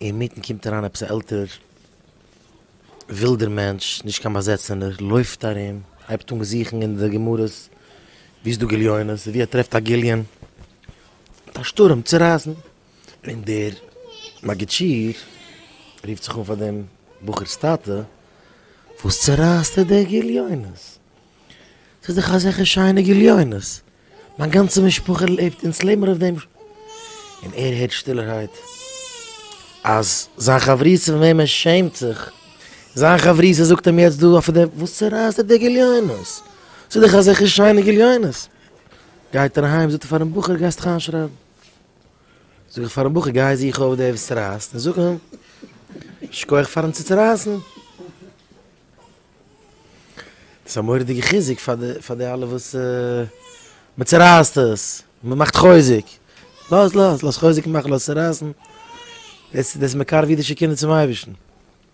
אינמיטן קומט אריין עפעס א עלטערער ווילדער מענטש, נישט קיין באזעצענער, לויפט ארום, הייבט אן זוכן אין די גמרות ווי איז דא גליונות, און ווי ער טרעפט א גליון, מיט א שטורעם צורייסן, און דער מגיד שיעור רופט זיך אן פאר דעם בחור'ס טאטע, וואס צורייסט ער די גליונות? ס'איז דאך אזעלכע שיינע גליונות, מיין גאנצע משפחה לעבט, אונז לעבן מיר אויף דעם. און ער הערט שטילערהייט אז זיין חברותא פון וועם ער שעמט זיך, זיין חברותא זאגט אים יעצט דא אויף דעם, וואס צורייסט דיר די גליונות? ס'איז דאך אזעלכע שיינע גליונות. גייט ער אהיים זאגט ער פארן בחור, גייסט זיך איינשרייבן? זאג איך פארן בחור, גיי זוך אויף דער וואס רייסט און זאג אים שכוח פארן צוצורייסן. דאס איז א מורא'דיגע חיזוק פאר די אלע וואס מען צורייסט עס, מען מאכט חוזק, לאז לאז, לאז חוזק מאכן, לאז צורייסן, דאס דאס מקרב אידישע קינדער צום אייבערשטן.